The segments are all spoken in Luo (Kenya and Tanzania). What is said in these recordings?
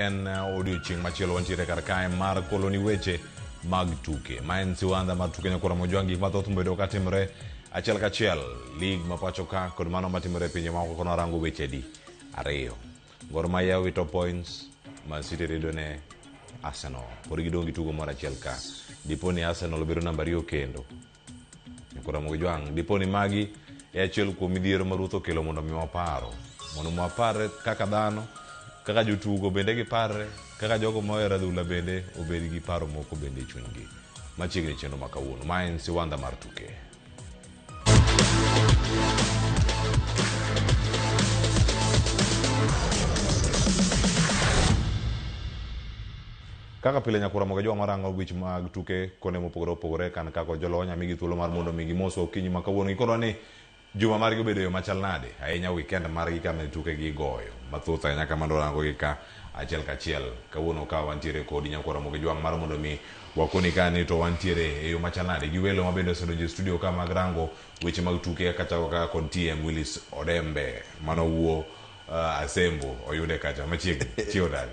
En uh, odiochieng' machielo wantiere kar kae mar koloni weche mag tuke ma en siwandha mar tuke nyakora mojwang' gik mathoth mobedo ka timore achiel kachiel lig ma pacho ka kod mano matimore e pinje maoko kono arango weche di ariyo Gor Mahia wito points Man City rido ne Arsenal pod gidong' gi tugo moro achiel ka dipo ni Arsenal obedo namba ariyo kendo Koromo gi jwang', dipo ni magi e achiel kuom midhiero ma Ruth okelo mondo mi waparo. Mondo mi waparre kaka dhano, kaka jotugo bende giparre, kaka jogo ma ohero adhula bende obed gi paro moko bende e chunygi. Machiegni chenro ma kawuono, ma en Siwandha mar Tuke. Kaka pile Nyakwar Ramogi e joma rango gwich mag tuke kuonde mopogore opogore kan kaka ojolo wanya migi thuolo mar mondo mi gimoswa okinyi ma kawuono gikorwa ni juma margi obedo eyo machal nade ahinya weekend margi kane tuke gi igoyo mathoth ahinya kamano warango gi ka achiel kachiel kawuono ka wantiere kodi Nyakwar Ramogi Jwang' mar mondo mi wakoni ka ni to wantiere eyo machal nade gi welo mabende osedonjo e studio ka mag rango weche mag tuke kaka chako kaka kod TM Willis Odembe mano wuo uh, Asembo oyude kacha machiegni chiwo dagi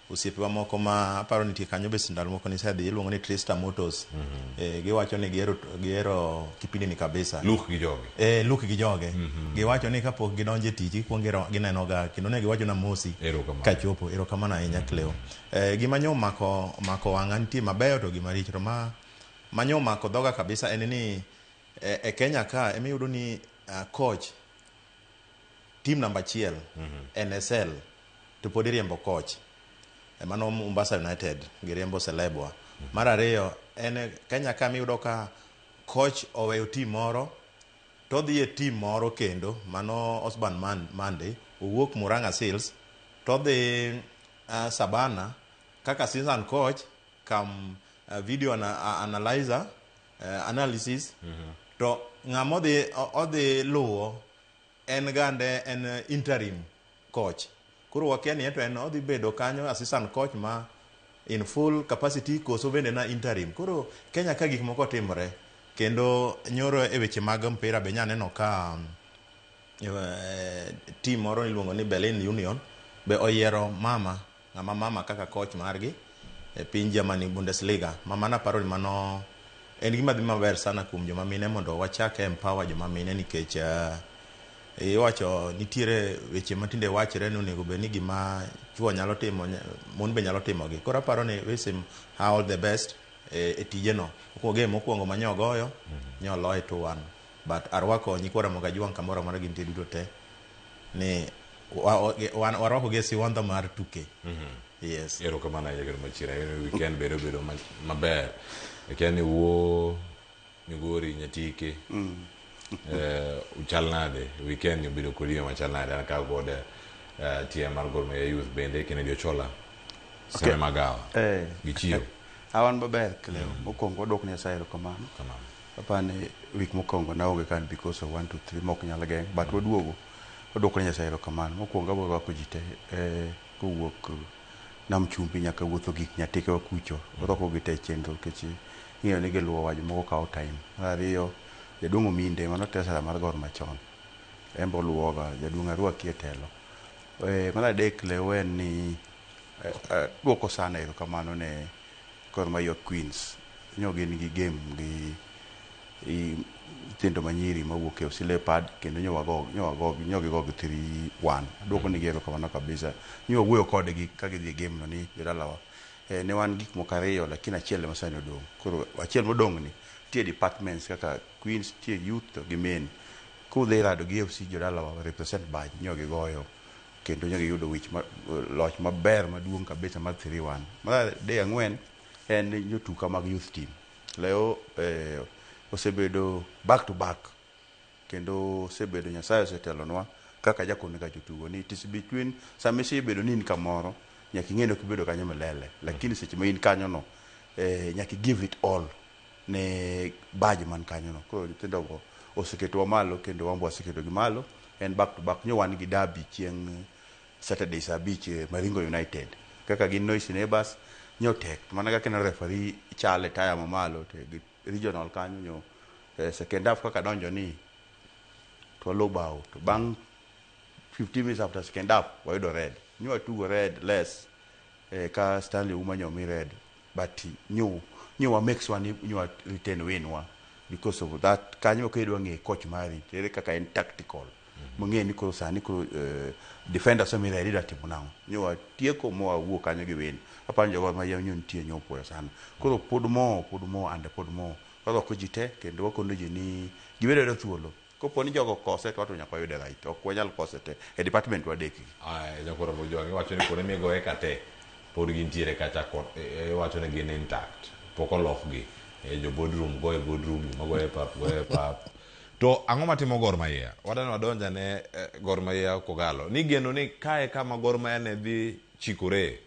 Osiepewa moko ma aparo nitie kanyo be ndalo moko nisedhi iluongo ni Trista Motors. Eh, giwacho ni gihero gihero kipindi ni kabisa. Luke gi joge. Eh, Luke gi joge. Giwacho ni kapok gidonjo e tich gikwongo giro- ginenoga kendo ne giwachona mosi Erokamano. kachopo. Erokamano ahinya Cleo. Eh, gima nyo omako omako wang'a nitie mabeyo to gi maricho to ma ma nyo omako dhoga kabisa en ni eh, e Kenya ka ema iyudo ni ah, coach team number achiel mm -hmm. NSL to pod iriembo coach emano Mombasa United giriembo Celebwa mm -hmm. mar ariyo en Kenya kama iyudo ka coach oweyo team moro to dhi e team moro kendo mano Osborne Man Monday owuok Murang'a Seals to dhi uh, ah, Sabana kaka season coach kam uh, video ana, uh, analyzer eh, analysis to ng'ama odhi o- odhi luwo en gande en eh, interim coach koro wakia ni ento en odhi bedo kanyo assistant coach ma in full capacity koso bende na interim koro kenya ka gik moko timore kendo nyoro e weche mag mpira be nyaneno ka um, eh, team moro iluongo ni berlin union be oyiero mama Ng'ama mama kaka coach margi e piny Germany, Bundesliga. Mama na paroni mano en gima dhi maber sana kuom joma mine mondo wachak empower joma mine nikech iwacho nitiere weche matinde wachre ni onego bed ni gima chuo nyalo timo mon be nyalo timogi. Koro aparo ni wish him her all the best e tijeno. Mokuongo game mokuongo ma nyo ogoyo nyo oloye two one but arwako nyikwa Ramogi Ajwang' kamoro amora gintie duto te. ni warwakogi e siwandha mar tuke mhm. yes erokamano ahinya kendo machira weekend bedo bedo maber akia ni wuo migori nyatike mm. eh, uchal nade weekend obedo kodi yo machal nade an kaw kod eh, tie mar gor maya youth bende kennedy ochola seme magawa eh. gi chiyo awan maber kleo mm. mokwongo wadwok nyasaye erokamano Aparo ni week mokwongo naonge ka because of one to three mok nyal geng' but waduogo waduoko ne Nyasaye erokamano. Mokwongo abo rwako ji te eh, kowuok Nam Chumbi nyaka wuotho gik Nyatekewa kucho. Warwako gi te e chenro nikech ing'eyo ni giluwowa jomoko kawo time. Mar ariyo, Jaduong' Ominde mano treasurer mar Gor machon en be oluwoga, Jaduong' arwaki e telo. Eh, mar adek lew en ni eh, eh, duoko sana erokamano ne Gor Mahia Queens nyo gin gi game gi nyithindo manyiri mawuok e OC Leopard kendo nyo wago nyo wago nyo gigo gi three one. Aduoko nigi erokamano kabisa. Nyo wawuoyo kodgi ka gidhi e game no ni jodalawa eh, ne wan gik moko ariyo lakini achiel ema sani odong'. Koro achiel modong' ni nitie departments kaka Queens, nitie Youth to gi Men. Kudhi rado gi FC jodalawa represent badge nyo gigoyo. kendo ne giyudo wich ma, loch maber maduong' kabisa mar 3-1. Mar adek ang'wen en nyotuka mag youth team. Leo eh, osebedo back to back kendo osebedo Nyasaye osetelonwa kaka jakoni kacho tugo ni it is between sama isebedo ni in kamoro nyaka ing'e ni ok ibedo kanyo milele lakini seche ma in kanyono eh, nyaka i give it all ne badge man kanyo no. Koro nyithindo go oseketowa malo kendo wan be waseketo gi malo. En back to back. Nyo wan gi derby chieng' Saturday saa abich e Maringo United. Kaka gin noisy neighbours, nyo tek. To mana kaka ineno referee chal e taya ma malo to e regional kanyo nyo e second half kaka donjo ni to walo bao. To bang' 15 minutes after second half wayudo red. Nyo watugo red less e ka Stanley Ouma nyo omi red. but nyo nyo wa make sure ni nyo wa retain win wa because of that kanyo ka idwa ng'e coach mari ere kaka en tactical mong'e ni koro sani koro eh, defender so mira idwa timo nang'o nyo wa tieko mo wa wuo kanyo gi win aparo jogo ma yam nyo nitie nyo puoyo sana koro pod mo pod mo and pod mo warwako ji te kendo wakono ji ni gibedo thuolo Kopo ni jogo okose to wato nyaka wayude right. Ok wanyal kose te. E department wadek gi. Aya, Nyakoro Mujwang' iwacho ni kuonde migoye ka te pod gintiere kacha kod eh, iwacho ni gin intact. Pok olokgi. Eh, jo boardroom goye boardroom, joma goye e pap goye e pap. To ang'o matimo Gor Mahia? Wadani wadonj ane eh, Gor Mahia Kogalo. Nigeno ni kae kama Gor Mahia ne dhi chikore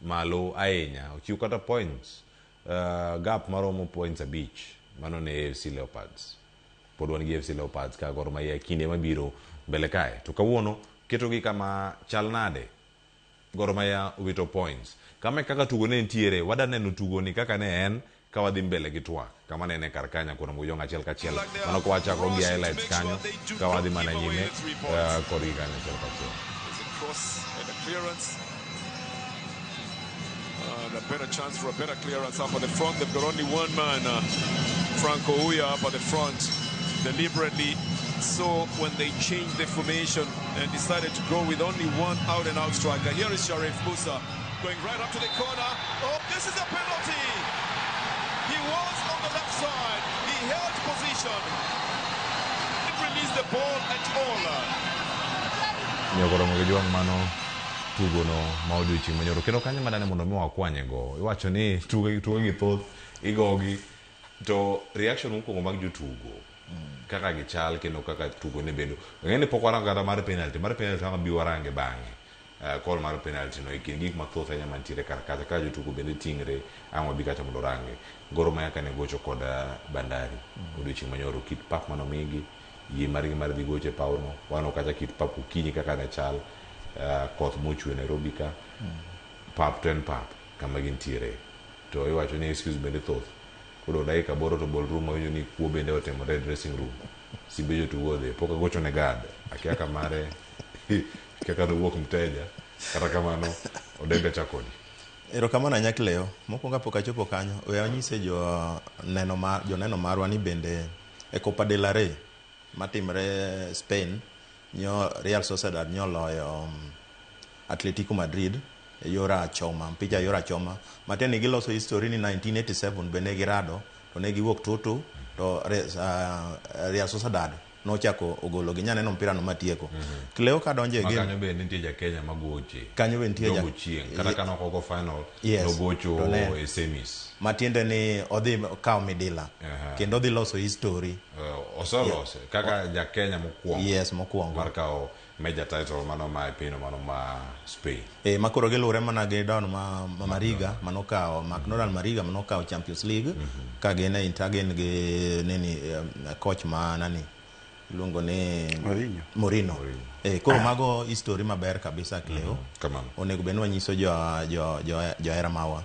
malo ahinya ochiw kata points uh, gap maromo points abich mano ne AFC Leopards pod wan gi AFC Leopards ka Gor Mahia kinde mabiro mbele kae to kawuono ketogi kama chal nade Gor Mahia wito points kama e kaka tugo ne nitiere wadaneno tugoni kaka ne en Ka wadhi mbele gi twak, kama ne ine kar ka nyaka orom guyong achiel kachiel, mano ka wachakro gi highlights kanyo, ka wadhi mana nyime uh, kodgi kanyo achiel kachiel. And a better chance for a better clearance up at the front. They've got only one man, uh, Franco Uya, up at the front, deliberately. So when they changed the formation and decided to go with only one out and out striker, here is Sharif Musa. Going right up to the corner. Oh, this is a penalty. He was on the left side. He held position. Didn't release the ball at all. nyokoro mogo jwang' mano tugono ma odiochieng' manyoro kendo kanyo madane mondo mi wakwanyego iwacho ni tuge tugogi thoth igogi to reaction mokwongo mag jotugo kaka gichal kendo kaka tugo ne bedo ng'e ni pok warango kata mar penalty mar penalty wanga bi warange bang'e uh, call mar penalty no e kind gik mathoth ahinya mantiere kar kacha ka jotugo bende tingre ang' wabi kacha mondo orange goro maya kane gocho kod uh, bandari mm-hmm. odiochieng' manyoro kit pap manomigi yie margi mar dhi gocho e pawno wano kacha kit pap okinyi kaka ne chal uh, koth mochwe nairobi ka mm-hmm. pap to en pap kama gintiere to iwacho ni excuse bende thoth koro dakika boro to bol room awinjo ni kuo bende otimore e dressing room simbe jotugo odhi pok agocho ne gad akia ka mare Kia ka dowuok mteja, kata kamano odembe cha kodi. Erokamano anyakleo. Mokwongo kapok achopo kanyo, we anyise joneno ma, joneno marwa ni bende e Copa del Rey matimre Spain, nyo Real Sociedad nyoloyo um, Atletico Madrid e yor achoma, mpija e yor achoma. Matiende ni giloso history ni 1987 be ne girado to ne giwuok tutu to Re- ah, Real Sociedad nochako ogologi nya neno mpira no matieko mm -hmm. Cleo ka donje game kanyo be nitie ja Kenya magoche kanyo be nitie ja chieng kata kana ok go final yes. nogocho e semis matiende ni odhi kawo midila uh -huh. kendo odhi loso history uh, osolose yeah. kaka ja Kenya mokwongo yes mokwongo mar kawo Major title mano ma e pinyno mano ma Spain. Eh, ma koro giluwre mana gi Don ma, ma Mariga manokawo McDonald Mariga manokawo Champions League ka gin e intergin gi nini um, coach ma nani iluongo ni Mourinho. Mourinho. Eh, koro mago history maber kabisa Cleo. Kamano. Onego bed ni wanyiso jo jo jo johera mawa.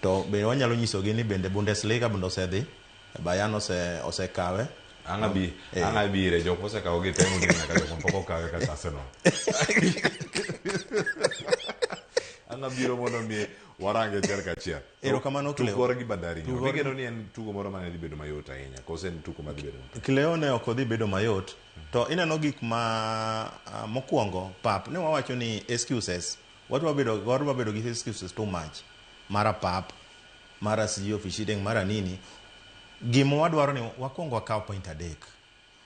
To be wanyalo nyisogi ni bende Bundesliga bende osedhi Bayern ose osekawe. Ang' abi, Eh. ang' abi ire jok mosekawo gi temo gini nyaka jok mapok okawe kaka Arsenal. Ang' abiro mondo mi warange achiel kachiel. Erokamano, Cleo. Tukor gi Bandari. Tukor- Tukor geno ni en tugo moro mane dhi bedo mayot ahinya. Kose en tugo madhi bedo mayot. Kileo ne ok odhi bedo mayot to ineno gik ma ah, mokwongo pap ne wawacho ni excuses wadwa bedo wadwa bedo gi excuses too much mara pap mara sijui ofishideng mara nini gima wadwaro ni wakwongo wakaw point adek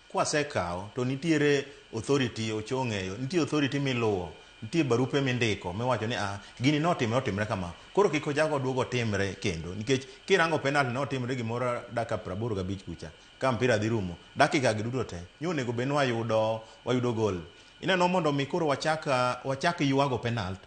kwasekawo to nitiere authority ochong'eyo nitie authority miluwo nitie barupe mindiko miwacho ni ah gini notimre otimre kama koro kik ojago oduogo otimre kendo nikech kirango penalty notimre gimoro dakika praboro gabich kucha ka mpira dhi rumo dakika gi duto te nyo onego bed ni wayudo wayudo gol ineno mondo mi koro wachak wachak ywago penalty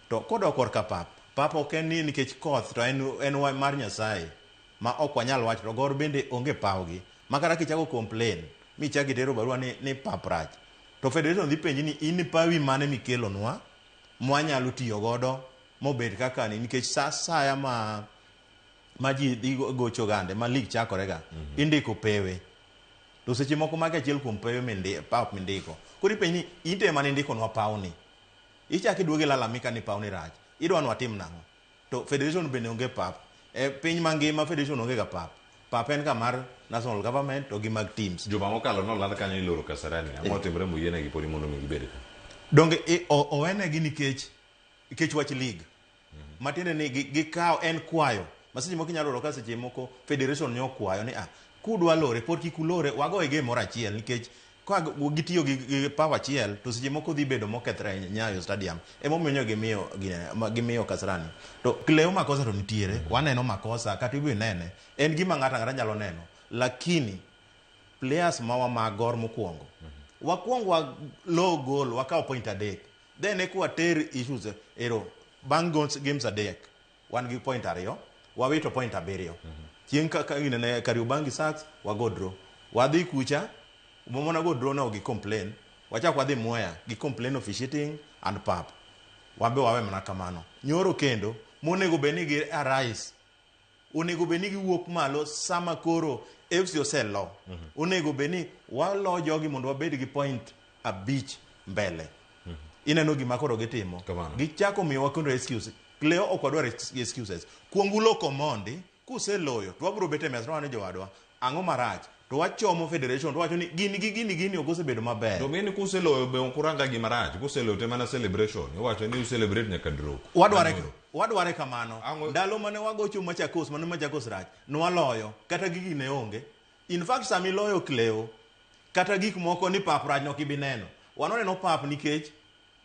To kodok korka pap, pap ok en ni nikech koth to en en mar Nyasaye ma ok wanyal wacho to gor bende onge pawgi makata kichako complain michak itero barua ni ni pap rach to federation dhi penji ni in pawi mane mikelonwa mwanyalo tiyo godo mobed kaka ni nikech sa saya ma ma ji dhi gocho gande ma lig chakore ga indiko pewe to seche moko magi achiel kuom pewe mindi pap mindiko koro ipenji ni in to ema nindikonwa pawni Ichak iduog ilalamika ni pawni rach. Idwa ni watim nang'o? To federation bende onge pap. E piny mangima federation onge ga pap. Pap en ga mar national government to gi mag teams. Juma mokalo noland kanyo ni iloro Kasarani. Ang'o otimre moyienegi podi mondo omi gibed ka? Donge i, o, owenegi nikech, nikech wach league? matiende ni gi- gikawo en kwayo maseche moko inyalo yudo ka seche moko federation ne okwayo ni ah kudwa lore pod kik ulore wagoye game moro achiel nikech ka g- gitiyo gi, gi power achiel to seche moko dhi bedo mokethre ahinya nyayo stadium emomiyo nyo gimiyo gine- ma- gimiyo kasarani to leo makosa to nitiere waneno makosa kata ibe nene en gima ng'ato ang'ata nyalo neno lakini players ma wamagor mokwongo wakwong wa low goal wakawo point adek Then eka water issues e- ero bang' gonse- games adek wan gi point ariyo wawito point abiriyo chieng' ka- ka- ine ne Kariobangi Sharks wago draw wadhi kucha momona go draw no gi complain wachak wadhi Mwea gi complain officiating and pap wan be wawe mana kamano nyoro kendo monego bed ni gi arise onego bed ni giwuok malo sama koro FC oselo. Onego bed ni walo jogi mondo wabed gi point abich mbele. Ineno gima koro gitimo. Kamano. Gichako miyowa kendo excuse. Leo ok wadwar ex- excuses. Kuong ulo Komondi, kuseloyo to wabiro bet e mesa to wane jowadwa. Ang'o marach? To wachomo federation to wacho ni gini gi gini gini ok osebedo maber. To ng'eni kuseloyo be ok uranga gima rach, kuseloyo te mana celebration, iwacho ni u celebrate nyaka drop. Wadware wadware kamano. Ang'o- Ndalo mane wagocho Machakos, mane Machakos rach, nwaloyo kata gigi ne onge. In fact sama iloyo Kleo kata gik moko ni pap rach nok ibi neno. Wan waneno pap nikech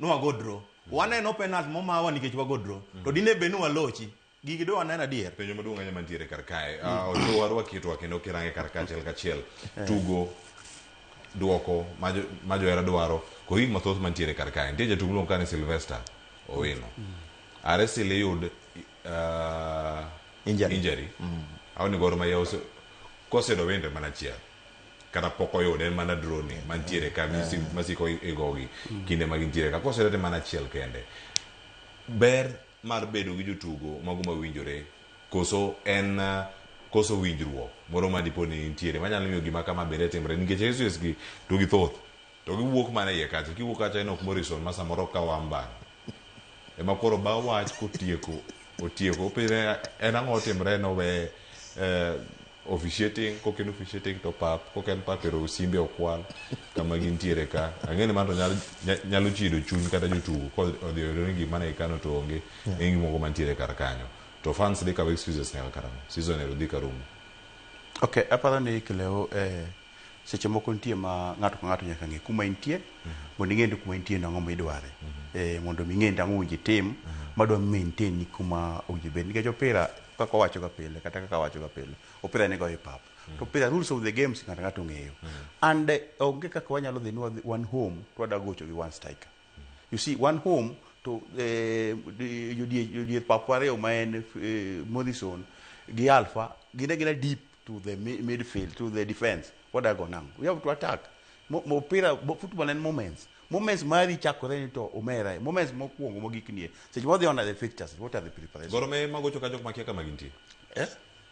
nwago draw. Waneno penalty momawa nikech wago draw. To dine bed ni walochi, Gigi dwa neno adier. Penjo maduong' ahinya mantiere kar kae. Ah, Ochow warwaki itwa kendo kirange kar kae achiel kachiel. Tugo duoko ma jo- ma johera dwaro kod gik mathoth mantiere kar kae. Nitie jatuk miluongo ka ni Sylvester Owino. Are still iyud ah, Injury. injury. Aoni goro ma yaw kosedo wende mana achiel. Kata pok oyude en mana drone mantiere ka misi- masiko igogi kinde ma gintiere ka. Kosedo to en mana achiel kende. Ber mar bedo gi jotugo mago mawinjore koso en koso winjruok moro ma dipo ni nitiere manyalo miyo gima kama bende timre nikech excuses gi to githoth to giwuok mana iye kacha kiwuok kacha inok Morrison ma samoro ka wamba ema koro ba wach kotieko otieko opire en ang'o otimre no we eh, officiating kok en officiating to pap kok en pap ero simbe okwal kama gintiere ka ang'e ni mano to nyalo, nya- nyalo chido chuny kata jotugo kodhi oyudo ni gima ne ikano to onge Yeah. yeah. moko mantiere kar kanyo to fans dhi kawo excuses nyaka karang'o season ero dhi karumo ok aparo ni kileo eh, seche moko nitie ma ng'ato ka ng'ato nyaka ng'e kuma intie mondo ing'e ni kuma intie nang'o ma idware eh, mondo mi ing'e ni ang'o winji tim madwa maintain ni kuma owinjo bed nikech opira kaka owacho ga pile kata kaka awacho ga pile opira ni goyo e pap to opira rules of the games ng'ato ng'ato ong'eyo and eh, onge kaka wanyalo dhi ni wadhi- wan home to wada gocho gi one striker you see one home to eh, di- jodie- jodier pap ariyo ma en eh, Morrison gi Alpha gine gina deep to the mi- midfield to the defense wada go nang we have to attack Mo- mo- opira bo- football en moments Moments mari chakore ni to omera. eh. Moments mokwongo mogik nie. Seche modhi on are the fixtures. What are the preparations? Goro me magocho ka jok makia kama gintie. Eh?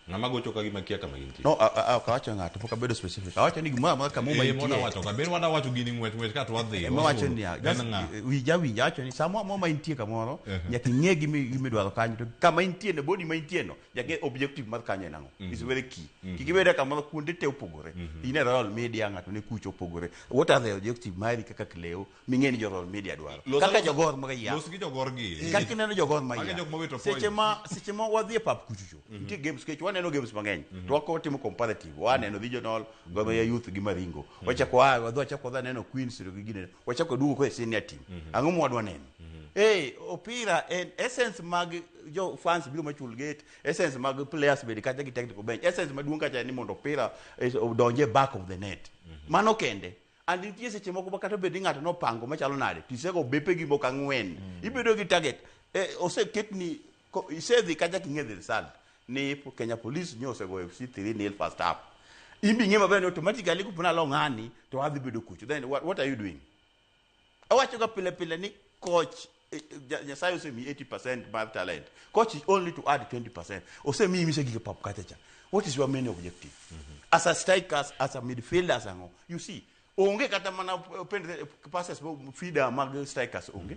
Ng'ama gocho ka gima kia kama gintie. No, a- a- a- ok awacho ng'ato, pok abedo specific. Awacho ni gimoro amora kama Eh, mona umantie. wacho ka ber wada wacho gini ng'wech ng'wech ka to wadhi. Ema wacho wasuru. niya, En just, ng'a? eh, winja winja wacho ni sama mwa maintie kamoro, Ehe. nyaka ing'e gimi- gimidwaro kanyo. To kama intie no, body ma intie no, jage objective mar kanyo en ang'o mm. is very key mm. Mm-hmm. kik ibede kamano kuonde te opogore mm -hmm. in e royal media ng'ato ne kucho opogore what are the objective mari kaka kleo ming'e ni jo royal media dwaro Los kaka jogor ma ya los gi jogor gi kaka ineno jogor ma ya seche ma seche ma wadhi e pap kuchucho mm -hmm. nitie games kech waneno games mang'eny mm -hmm. to wako timo comparative waneno mm -hmm. regional mm -hmm. goma ya youth gi maringo mm -hmm. wachako wa wadhi wachako dha neno queens to gi gine wachako waduogo kod senior team ang'o ma wadwa neno eh opira en essence mag jo fans biro machul gate essence mag players bende kata gi technical bench essence maduong' kacha en ni mondo opira eh, odonje back of the net mano kende and nitie seche moko ma kata bed ni ng'ato nopango machalo nade tisego bepe gi moko ang'wen ibedo gi target eh, oseketni Ko- isedhi kacha king'e the result ni po- kenya police nyo osegoyo fc 3 nil first half in be ing'e maber ni automatically kupona lo ng'ani to adhi bedo kucho then what, what are you doing awachoga pile pile ni coach eh, eh, Ja- nyasaye osemi 80 mar talent coach is only to add 20 osemi imise gige pap kachacha what is your main objective as a striker as, as a midfielder as ang'o you see onge kata mana eh, pen- eh, passes mo- feeder mag strikers onge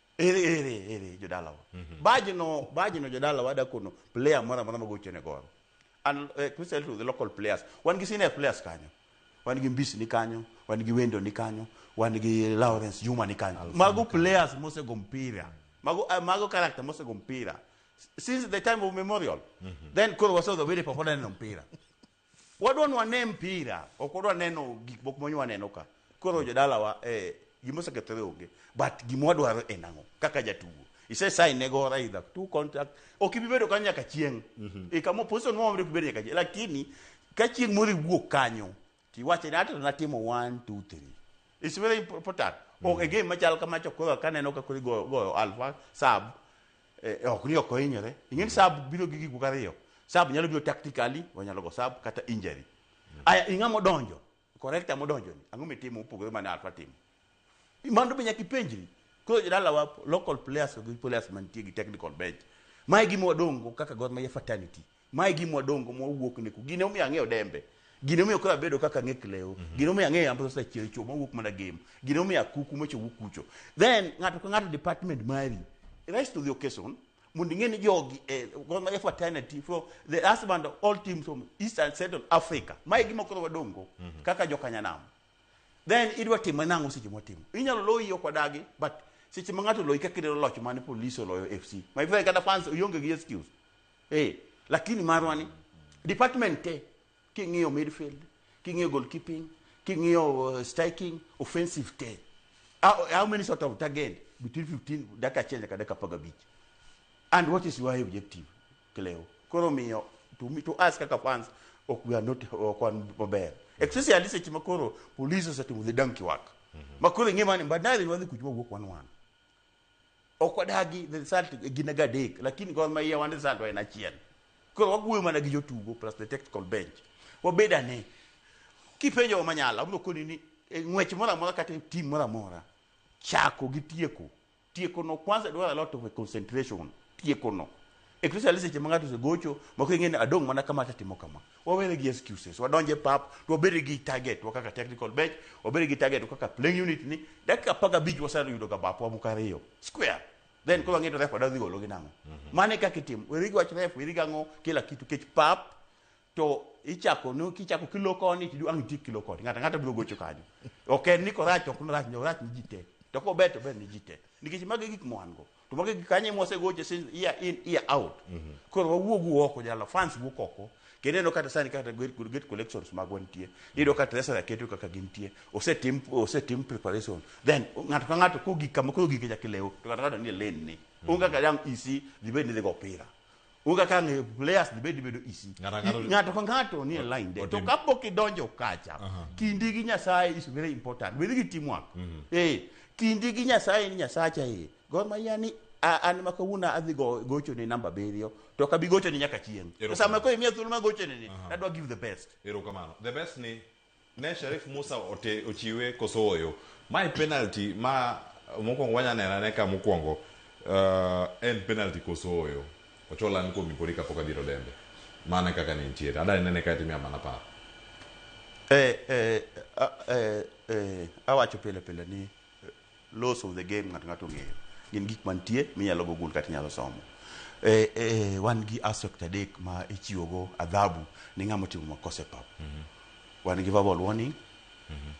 ere ere ere jodalawa mm-hmm. bajno bajno jodalawa dakono player moro amora magocho ne goro and uh, eh, Christian to the local players wan gi senior players kanyo wan gi mbisi ni kanyo wan gi wendo ni kanyo wan gi Lawrence Juma ni kanyo mago players mosego mpira mago uh, mago character mosego mpira since the time of memorial mm -hmm. then koro wasoga wede pok waneno mpira Wadwa ni wane mpira, ok wadwa neno gik moko monywa neno ka. Koro jodalawa eh, gima osekethore onge, but gima wadwaro en ang'o kaka jatugo. Ise sign ne go Raidha two contract, ok ibi bedo kanyo nyaka chieng'. E kama position moro mabiro kibedo nyaka chieng'. Lakini ka chieng' moro iwuok kanyo, tiwache ni ato natimo one, two, three. It's very important. Ok e game machal kama to koro kaneno ka koro igoyo goyo alfa sub Eh, ok ni ok ohinyore ing'e ni sab biro gi gik moko ariyo sab nyalo biro tactically wanyalo go sab kata injury aya ing'a modonjo corrector modonjo ni ang'o mitimo mopogore mane alfa timo I- mano be nyaka ipenjri koro jodalawa local players gi players mantie gi technical bench mae gima wadongo kaka gor mahia fraternity ma e gima wadongo ma wawuok ne ku gine omiyo ang'eyo dembe gine omiyo koro abedo kaka ang'e klewo gine omiyo ang'eyo yambo sasa chiel chuo ma wuok mana gem gine omiyo akuku ma chowuok kucho then ng'ato ka ng'ato department mari rest of the occasion mondo ing'e ni jogi eh, goma e fraternity from the husband of all teams from east and central africa ma e gima koro wadongo kaka jokanyanam then idwa timo nang'o seche mwatimo inyalo loyi ok wadagi but seche ma ng'ato oloyi kaka idwaro loch mane police oloyo fc my friend kata fans ionge gi excuse Eh, lakini marwa ni department te king'iyo midfield, king'iyo goalkeeping, king'iyo uh, striking, offensive te. How, how many sort of target between 15 dakika achiel nyaka dakika apar gabich? And what is your objective, Cleo? Koro miyo to me to us kaka fans ok we are not ok wan maber. Especially seche ma koro police osetimo the donkey work. Makoro ing'e mani mbadari wadhi kuchuma wuok wan wan. Ok wadagi the result gin aga adek lakini Gor Mahia wan result wa en achiel. Koro wawuoyo mana gi jotugo plus the technical bench. Wabed ane kipenjo wa manyala abiro koni ni e ng'wech moro amora kata e tim moro amora chako gi tieko. Tieko no kwanza dwaro a lot of concentration. Tieko no. especially seche ma ng'ato osegocho mako ing'e ni adong' mana kama asetimo kama wawere gi excuses wadonje pap to wabed gi target wa kaka technical bench wabed gi target wa kaka playing unit ni dakika apar gabich waseyudo ga bapwa moko ariyo square then koro wang'e to ref wadadhi golo gi nang'o mane kaka itimo weri gi wach ref weri gi ang'o kila kitu kech pap to ichako no kichako kilo koni to ang' itik kilo koni ng'ato ng'ato biro gocho kanyo ok en ni korach ok norach no rach ni ji te to kober to ber ni ji te nikech magi e gik mwan go to magi e gik kanye mwasegoche since year in year out koro wawuogu oko jalo fans wuok oko kendo ineno kata sani kata gate gate collections magwa nitie iyudo ka treasury keto kaka gintie osetim osetim preparation then ng'ato ka ng'ato kogik kama koro gik nyaka ilew to ng'ato ka ng'ato nie lane ni onge kaka dang' isi dhi bed ni idhi go opira Uga ka ng'eyo players ni bedi bedo isi. Ng'ato ang'ato- I- Ng'ato ka ng'ato ni e line de. To Otim- kapok idonjo kacha, Aha. kindi gi Nyasaye is very important. With gi teamwork. Eh, kindi gi Nyasaye ni Nyasacha eh. Gor Mahia ni a- an ma kawuono adhi go- gocho ne namba abiriyo to kabi gocho ne nyaka chieng'. To Erokamano. sama koro imiya thuolo ma gocho ne ni, Aha. adwa give the best. Erokamano. The best ni Ne Sharif Musa ote ochiwe koso oyo. Mae penalty ma mokwongo wanya neno ane ka mokwongo uh, en penalty koso oyo. Ochola an kuomi podi kapok adhiro dembe. Mane kaka ne nitiere. Ada nene ka timia mana par. Eh, eh, ah, eh, eh, awacho pile pile ni Laws of the game ng'ato ng'ato ong'eyo. Gin gik mantie minyalo go gul kata inyalo somo. E, e, wan gi aspect adek ma ichiwogo adhabu ne ng'ama otimo makosa e pap. Wan gi verbal warning,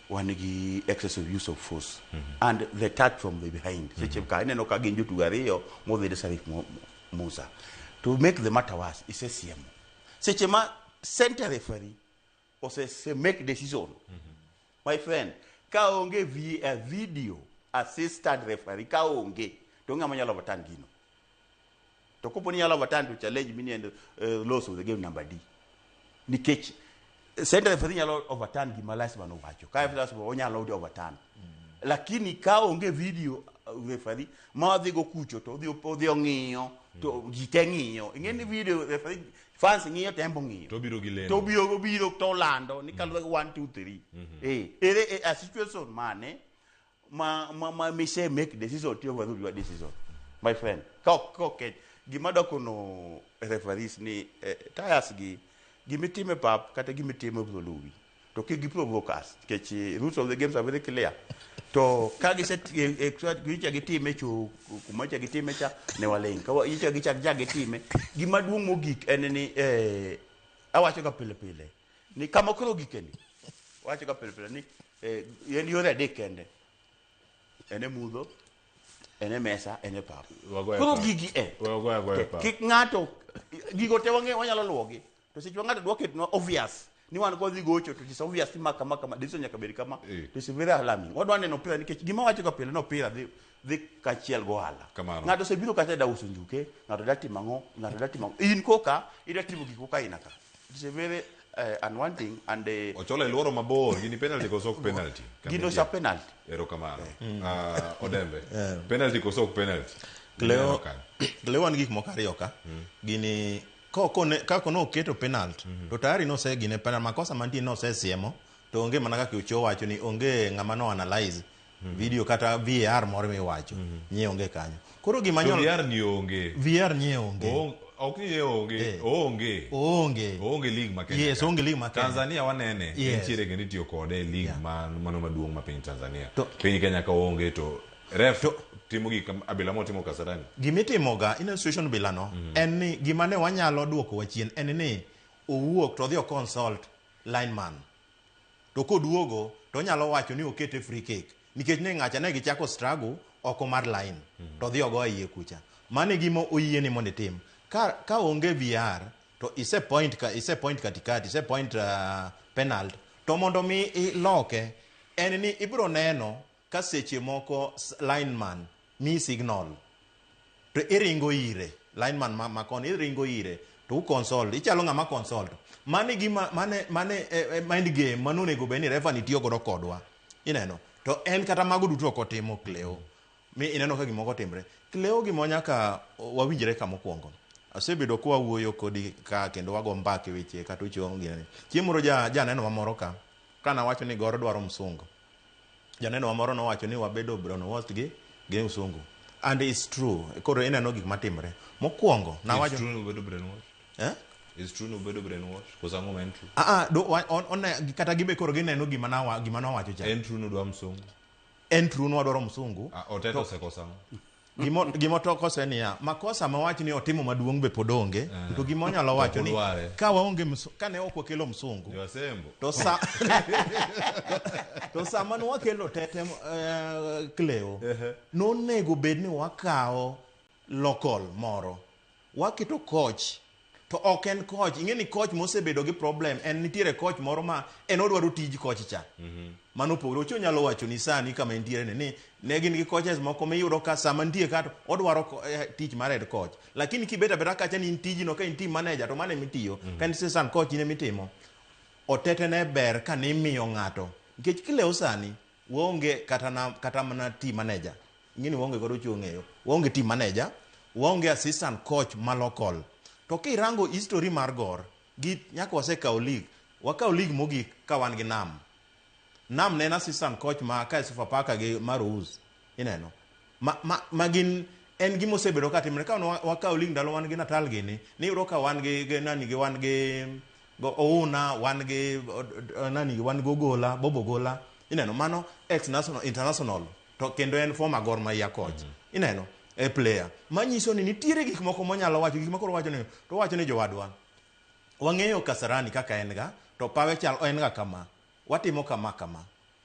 wan gi excess of use of force and the touch from the behind. Seche ka ineno ka gin jotugo ariyo modhi ne Sarif Mu- Musa. To make the matter worse, isesiemo. Seche ma center referee ose se make decision my friend ka onge vi, a video assistant referee ka onge to ng'ama nyalo overturn gino to kopo ni nyalo overturn to challenge mini and uh, loss of the game number d nikech eh, center referee nyalo overturn gima lasman owacho ka mm. lasman onyalo overturn mm. lakini ka onge video uh, referee ma odhi go kucho to odhi odhi ong'iyo to mm. ji te ng'iyo ing'e ni video referee fans ng'iyo to en bo ng'iyo To obiro gi lendo. to obiro obiro to olando ni kaluwore gi 1 2 3 eh ere eh, a situation mane ma ma ma mi say make decision to overrule your decision my friend ka ok ka ok gima doko no referees ni eh, tires gi gimitime pap kata gimitime obiro luwi to kik giprovoke us nikech eh, rules of the games are very clear to ka gise eh, eh, so that gicha gitime chu kuma cha gitime cha ne waling ka gicha gicha gicha gitime gima duong' mogik en ni eh, awacho ga pile pile ni kama koro gikeni wacho ga pile pile ni eh, en yore adek kende en e mudho en e mesa en e pap Wagoye koro pap. gigi e Wagoye agoya pap. kik ng'ato gigo te wang'e wanyalo luwogi To seche ma ng'ato dwa ketnwa obvious ni wan kodhi gocho to it is obvious ni ma kama kama decision nyaka bed kama Eh. to it's very alarming. Wadwa neno opira nikech gima wacho ga pile ni opira dhi dhi kachiel gohala. Kamano. Ng'ato osebiro kacha da uso njuke, ng'ato da timo ang'o, ng'ato da timo ang'o. In koka ida timo gik koka ina ka. It's a very uh, unwanting and uh, Ochola iluoro mabor gini penalty koso ok penalty? gino sa penalty. Erokamano. Ah, Odembe. Penalty koso ok penalty? Cleo, Erokamano. Cleo wan gik moko ariyo ka. Gini Kako ne oketo penalt mm -hmm. to tayari nosegine penalt makosa mantie nosesiemo to onge mana kaka ucho wacho ni onge ng'ama no analyze mm -hmm. video kata VAR moro miwacho mm -hmm. nye onge kanyo koro gima nyol VAR ni onge VAR nye onge o ok ni onge eh. onge onge onge league ma Kenya yes onge league ma Kenya Tanzania wanene yes. nitiere kendo itiyo kode league yeah. ma mano maduong' ma piny Tanzania to, piny Kenya ka onge to Ref to timo gik abila motimo Kasarani. Gima itimoga in institution bila no mm. en ni gima ne wanyalo duoko wa chien en ni owuok to odhi o consult lineman. To koduogo to onyalo wacho ni okete free kick nikech ne ng'acha ne gichako struggle oko mar line mm. to odhi ogo iye kucha. Mane gima oyie ni mondo itim. Ka, ka onge VR to ise point ka ise point katikati ise point uh, penalty to mondo mi iloke en ni ibiro neno Ka seche moko lineman miyi signal to iringo ire, lineman ma, ma koni iringo ire to u consult, ichalo ng'ama consult. Mane gima mane mane e, e mind game mane onego bed ni refa ni tiyo godo kodwa. Ineno? To en kata mago duto ok otimo Cleo. Mi ineno ka gimoko timre. Cleo gima nyaka wawinjre ka mokwongo. Asebedo kwa wuoyo kodi ka kendo wago mbaka e weche kata ochong' gini. Chieng' moro ja janeno mamoro ka kana wacho ni goro dwaro msungu. Janeno wa moro nowacho ni wabedo brown washed gi gi msungu and it's true. Koro ineno gik matimre. Mokwongo It's nawacho true ni ubedo brainwashed. eh? It's true ni ubedo brainwashed. Koso ang'o ma en true? Ah, ah, do- wa- on- one- kata gibe koro gineno gima nawa- gima nawacho cha En true ni udwa msungu. en true ni wadwaro msungu Ah, Oteta osekosa ang'o? Gima otokose niya, makosa ma wach ni otimo maduong' be pod onge, eh. to gima onyalo wacho ni ka waonge ka ne ok wakelo msungu to sa to sama ne wakelo tete eh, kleo, nonego bed ni wakawo lokol moro waketo coach to ok en coach ing'e ni coach mosebedo gi problem en nitiere coach moro ma en odwaro tij coach cha mhm. mano opogore ocho nyalo wacho ni sani kama entiere ni ne gin gi coaches moko miyudo ka sama nitie ka odwaro eh, tich mar head coach lakini kibet abeta kacha ni in tijino ka in team manager to mane mitiyo mhm. ka in season coach ne mitimo otetene ber ka nimiyo ng'ato nikech kilewo sani Waonge kata na, kata mana team manager. Ing'eni waonge godo chuo ng'eyo. Waonge team manager, waonge assistant coach ma local. To kirango history mar Gor, gi nyaka wasekawo league. Wakawo league mogik ka wan gi Nam. Nam ne en assistant coach ma kae Sofapaka gi Marouz. Ineno? Ma, ma, ma gin en gima osebedo ka timre ka wan- wakawo ling ndalo wan gi natal gini niyudo ka wan gi gi nani gi wan gi go ouna wan gi od- od- eh, nani gi wan gi ogola bobo gola ineno mano ex national international to kendo en former Gor Mahia coach ineno e player manyiso ni nitiere gik moko monyalo wacho gik makoro wacho ni to wacho ni jowadwa wang'eyo kasarani kaka en ga to pawe chal en ga kama watimo kama kama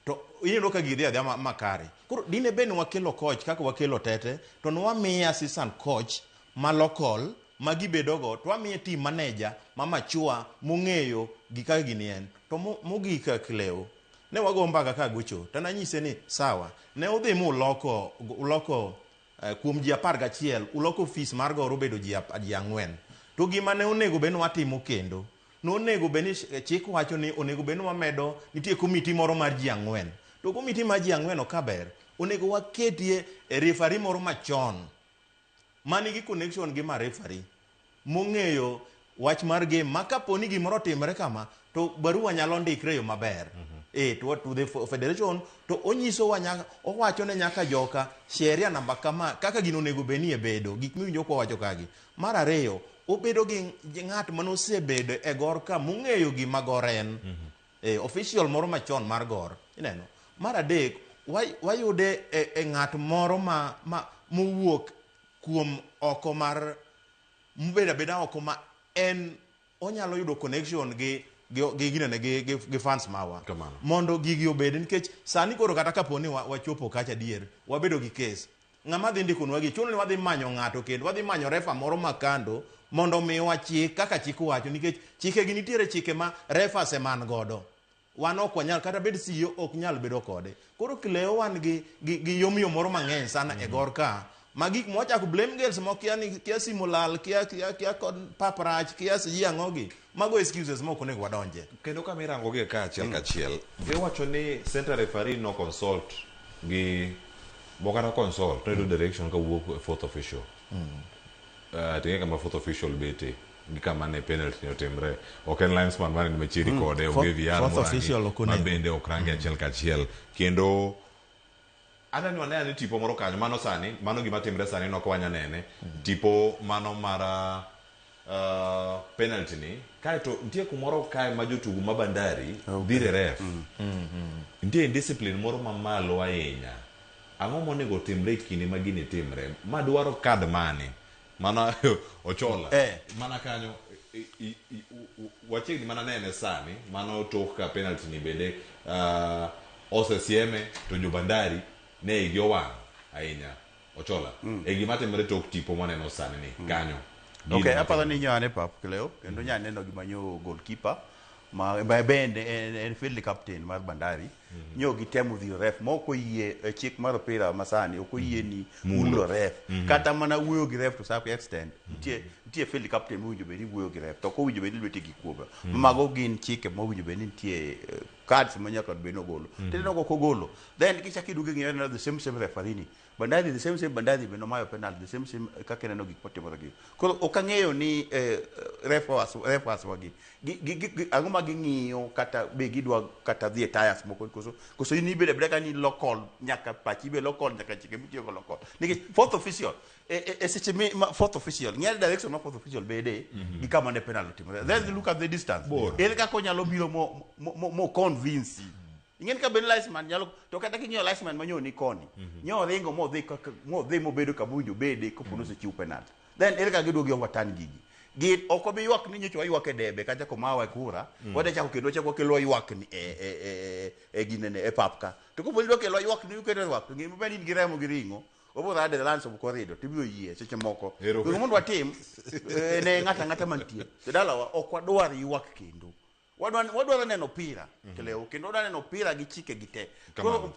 to ineno ka gidhi adhi ma- makare koro dine bed ni wakelo coach kaka wakelo tete to ne wamiye assistant coach ma local ma gibedogo to wamiye team manager ma machua mong'eyo gika gini en to mo- mogik kak lew ne wago mbaka ka gocho to nanyise ni sawa ne udhi mu uloko uloko eh, kuom ji apar gachiel uloko ofis mar goro obedo ji ap- ji ang'wen to gima ne onego bed ni watimo kendo nonego bed ni chik wacho ni onego bed ni wamedo nitie komiti moro mar ji ang'wen to komiti mar ji ang'wen ok ber onego waketie e refari moro machon ma nigi connection gi ma refari mong'eyo wach mar game ma kapo ni gimoro otimre kama to barua nyalo ndikre yo maber eh, to, to the fe- federation to onyiso wa nyaka owacho ne nyaka joka sheria namba kama kaka gino onego bed ni e bedo gik miwinjo kwa wacho kagi Mar ariyo, obedo gi gi ng'at mane osebedo e gor ka mong'eyo gima gor en. Eh, official moro machon mar gor. Ineno? Mar adek, way- wayude e, e ng'at moro ma, ma mowuok kuom oko mar mobedo abeda oko ma en onyalo yudo connection gi gi gi ginene gi, gi, gi fans mawa Kamano. mondo gigi obed nikech sani koro kata kapo ni wa- wachopo kacha adier wabedo gi kes Ng'ama dhi ndikonwagi? Chuno ni wadhi manyo ng'ato kendo, wadhi manyo refa moro ma kando mondo omiwa chik kaka chik wacho, nikech chikegi nitiere chike ma refas e man godo. Wan ok wanyal, kata bed CEO ok nyal bedo kode. Koro Cleo wan gi, gi, gi yomyom moro mang'eny sana e gor ka ma gik mwachako blame girls moko kia ni kia simo lal kia kia kia kod pap rach kia siji ang'ogi Mago excuses ma ok onego wadonje. Kendo kama irangogie ka achiel ka achiel, iwacho ni center referee no consult gi bokata consult to yudo direction ka wuok e fourth official. Eh, tinge kama fourth official bete gi kama ne penalty ne otimre. Ok en linesman mane ni machiegni kode, Fourth- onge VR fourth morangi, official ok ma onego. bende ok rangi achiel ka achiel. Kendo Adwa ni wane ane tipo moro kanyo. Mano sani, mano gima timre sani no kawanya nene. Tipo mano mar penalty ni. Kaeto nitie kumoro kae ma jotugo ma Bandari dhire ref. Nitie indiscipline moro mamalo ahinya. Ang'o monego otimre e kinde ma gini timre? Ma dwaro card mane? mana ochola Eh. mana kanyo i- i- i- u- u- wachiegni mana nene sani mana otok ka penalty ni bende uh, osesieme to jobandari ne igi owang' ahinya ochola mm. e gima timore tok tipo mwaneno sani ni kanyo Gino Okay, matimo. aparo ni nyo ane pap Cleo kendo nya neno gima nyo goalkeeper ma ma bende en, en field captain mar Bandari mm-hmm. nyo gitemo dhiro ref ma ok oyie e chik mar opira masani ok oyie ni mm-hmm. mulo, mulo ref mm-hmm. kata mana wuoyo gi ref to some extent nitie mm-hmm. nitie field captain mowinjo bed ni wuoyo gi ref to ok owinjo bed ni lwete gi kuoba mm-hmm. mago gin chike mowinjo bed ni nitie eh, cards ma nyaka bed ni ogolo mm-hmm. tinde nogo kogolo then kichak iduogo ing'iyo the same same referee ni Bandari the same same Bandari be nomayo penalty the same same eh, kaka ineno gik motimore gi. Koro ok ang'eyo ni eh, referees referees wagi gi- gi- gi- gi- ang'o ma ging'iyo kata be gidwa kata dhi e tires moko koso koso in ibeda beda ka ni local nyaka pachi be local nyaka chike mitiyo go local. Nikech fourth official e e- e seche mi ma- fourth official ng'e direction ma fourth official bede gi kama ne penalty timore. Then look at the distance. Bor. Ere kaka onyalo biro mo mo- mo convince ing'en ka ben liceman nyalo to kata king'iyo liceman ma nyoni koni mhm. nyo ringo modhi modhi mobedo kama owinjo bede kopo mhm. nosechiw penalty then ere kaka giduogi overturn gigi gin ok obi ywak ni nyocha waywak e debe kata komawa e kura mm. wade chako kendo chako kelo ywak ni e e e e ginene e pap ka to kopo nidwa kelo ywak ni uketo ywak to ngima bende in gi remo gi ringo obo rade the lands of corridor to ibiro yie seche moko gino mondo watim eh, ne ng'ata ng'ata mantie to dalawa ok wadwar ywak kendo wadwa wadwa neno opira mhm. kelewo kendo wadwa neno opira gi chike gi te koro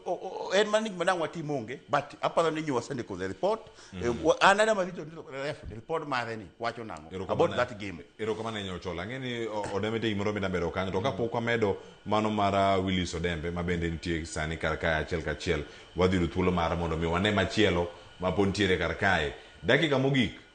en mana ni madang watim onge but aparo ni nyuwa sende the report mhm. eh, an ada marito ni ref report mare ni wacho nango about that game ero kama nenyo chola ngeni odemete imoro mi nambero kanyo to kapok mhm. wamedo mano mara uh, Willis Odembe ma bende nitie sani kar kae achiel kachiel wadhi yudo thuolo mara mondo mi wane machielo ma pod nitiere kar kae dakika mogik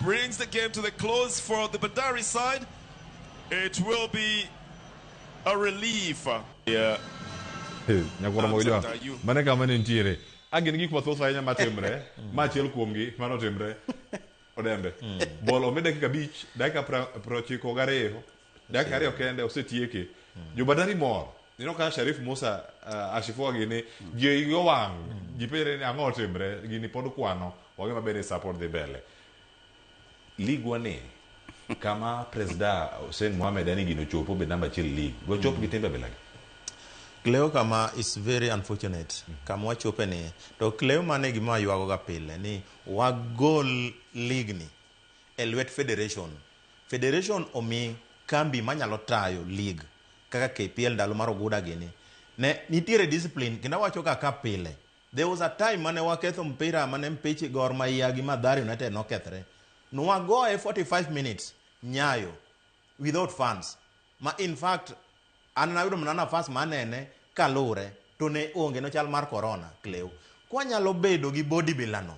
brings the game to the close for the Bandari side. It will be a relief. Yeah. nyakwara mogo jwa mane kama ne nitiere angin gik mathoth ahinya matimre ma achiel kuomgi mano timre odembe bol omi dakika abich dakika pra- prochiko gariyo dakika ariyo kende osetieke jo bandari mor ineno ka sharif musa uh, ashifua gini ji igi owang ji penjre ni ang'o otimre gini pod kwano wang'e maber ni sa pod dhi mbele ligwa ni kama presida hussein mohamed ani gino chopo be namba achiel lig dochop gi timbe bilagi Cleo kama is very unfortunate kama wachope ni to Cleo mane gima ywagoga pile ni wagol ligni e lwet federation. Federation omi kambi manyalo tayo lig kaka KPL ndalo mar Oguda gini. Ne nitiere discipline kendo awacho ga ka pile. There was a time mane waketho mpira mane mpichi Gor Mahia gi Mathare United nokethre. Nwagoye 45 minutes, Nyayo. without funds ma in fact an nayudo mana nafas ma anene kalure to ne onge no chal mar corona kleu kwanyalo bedo gi body builder no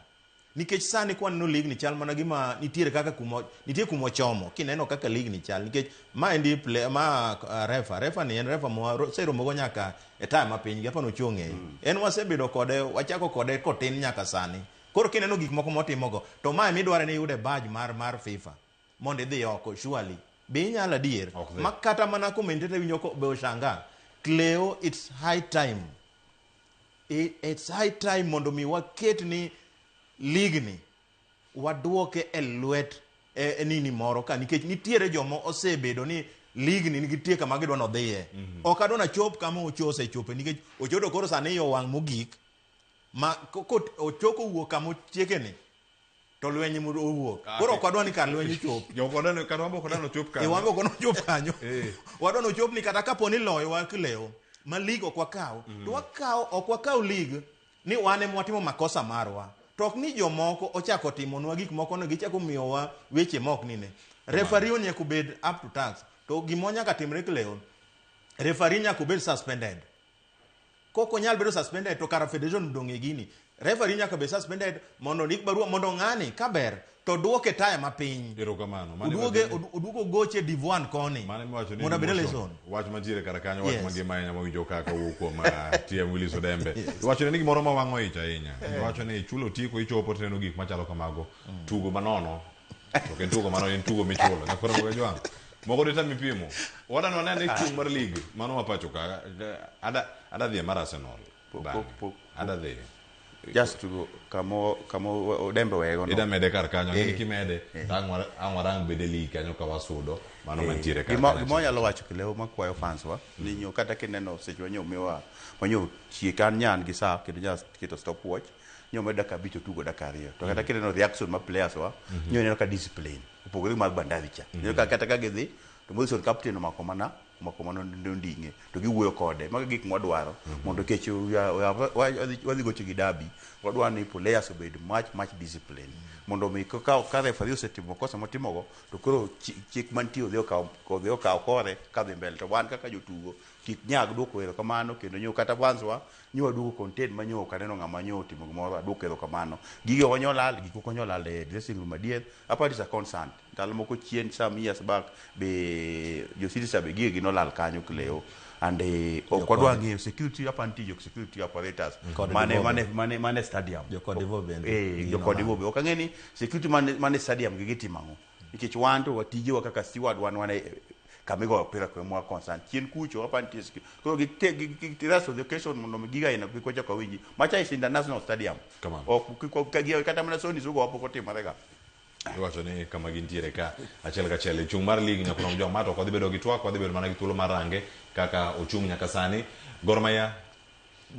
nikech sani kwaneno ligni chal mana gima nitiere kaka kuma nitie kuma ochomo kineno kaka ligni chal nikech ma endi play ma uh, refa refa ni en refa moseromogo nyaka e taya ma piny gapano ochung' e en wasebedo kode wachako kode kotin nyaka sani koro kineno gik moko motimogo to ma emidware ni yude badge mar mar FIFA mondo idhi oko surely be inyalo adier Ok dhi. ma kata mana commentator winyo ko be oshanga cleo it's high time I- it's high time mondo mi waket ni league ni waduoke e lwet e, e nini moro ka nikech nitiere joma osebedo ni league ni nitie kama gidwa nodhiye ok adwa nachop kama ocho osechope nikech ochodo koro sani yo wang' mogik ma ko- ko- ochoko wuok kama ochiekeni to lweny moro owuok ah, koro ok wadwa ni kar lweny ochop jokwadwani ok wadwa nochop kanyo eh, wan ok wadwa nochop kanyo eh. wadwa nochop ni kata kapo ni loyo wa kilewo ma lig ok wakaw mm. to wakaw ok wakaw lig ni wan ema watimo makosa marwa to ok ni jomoko ochako timonwa gik moko no gichako miyowa weche ma ok nine refari onyako bed up to tax to gima onyaka timre kilewo refari nyaka obed suspended Kok onyal bedo suspended to kara federation dong e gini. Referee nyaka be suspended mondo ndik barua mondo ng'ani kaber to duoke taya mapiny. Erokamano. Mane Oduoge wacho ni- od- oduogo goche Divuan koni. Mane miwacho ni Mondo abed emotion. eleson. Wach mantiere kar kanyo wach Yes. mangima ahinya mawinjo kaka owuok kuom ah, TM Willis Odembe. Iwachone ni gimoro ma wang'o ich ahinya. Iwacho ni chulo otiko ichopo tineno gik machalo kamago. Tugo manono to ok en tugo mano en tugo michulo nyaka koro moga jwang moko dita mipimo wadano wane ane chung mar lig mano ma pacho ka ada ada dhie mar Arsenal Pok- bang'e. pok- pok- ada dhie just tugo kamo kamo odembe wego no. ida mede kar kanyo Eh. ng'e kimede to ang' wara- ang' warang bede lig kanyo ka wasudo mano mantiere kar Gimo- kanyo. gima wanyalo wacho kilewo makwayo fans wa ni nyo kata kineno seche wanyo miwa wanyo chie kan nyan gi saa kendo nya keto stop watch nyo medo dakika abich otugo dakika ariyo to kata kineno reaction ma players wa nyo ineno ka discipline opogore gi mar bandari cha ineno ka kata ka gidhi to Morrison captain omako mana omako mana onding'e to giwuoyo kode mago e gik mwadwaro mondo kech uya- uya- wa- wadhi- wadhi gocho gi dabi wadwaro ni players obed much much discipline mondo mi ka- ka ka referee osetimo kosa motimogo to koro chi- chik mantie odhi okaw odhi okaw kore kadhi mbele to wan kaka jotugo kik nyag dwoko erokamano kendo nyo kata fans wa Nyo aduogo content ma nyo ok aneno ng'ama nyo otimo gimoro aduoko erokamano. Gigi ok onyal lal, gik ok onyal lal e dressing room adier. Aparo ni is a constant. Ndalo moko chien some years back be jo City Star be gigegi nolal kanyo kilewo and ok Jokodo. wadwa ng'eyo security aparo nitie jo security apparatus Kod mane Divobe. mane mane mane stadium. Jokodivo bende Eh, gigi jokodivo nolal. be ok ang'e ni security mane mane stadium gi gitimo ang'o. nikech wan to watijewa kaka steward wan wan e- e- kama igoyo opira kwe mwa concern chien kucho hapa nitie ski- koro gi- te- gi- gi- gi- rest of the occasion mondo mi giga ina kik wachak wawinji macha is international stadium Kamano. ok kik wa- ka gi- kata mana soni sugo wapo kotimore ga iwacho ni kama gintiere ka achiel ka achiel chung' mar lig nyaka nom joma to ok wadhi bedo gi twak wadhi bedo mana gi thuolo mar range kaka ochung' nyaka sani Gor Mahia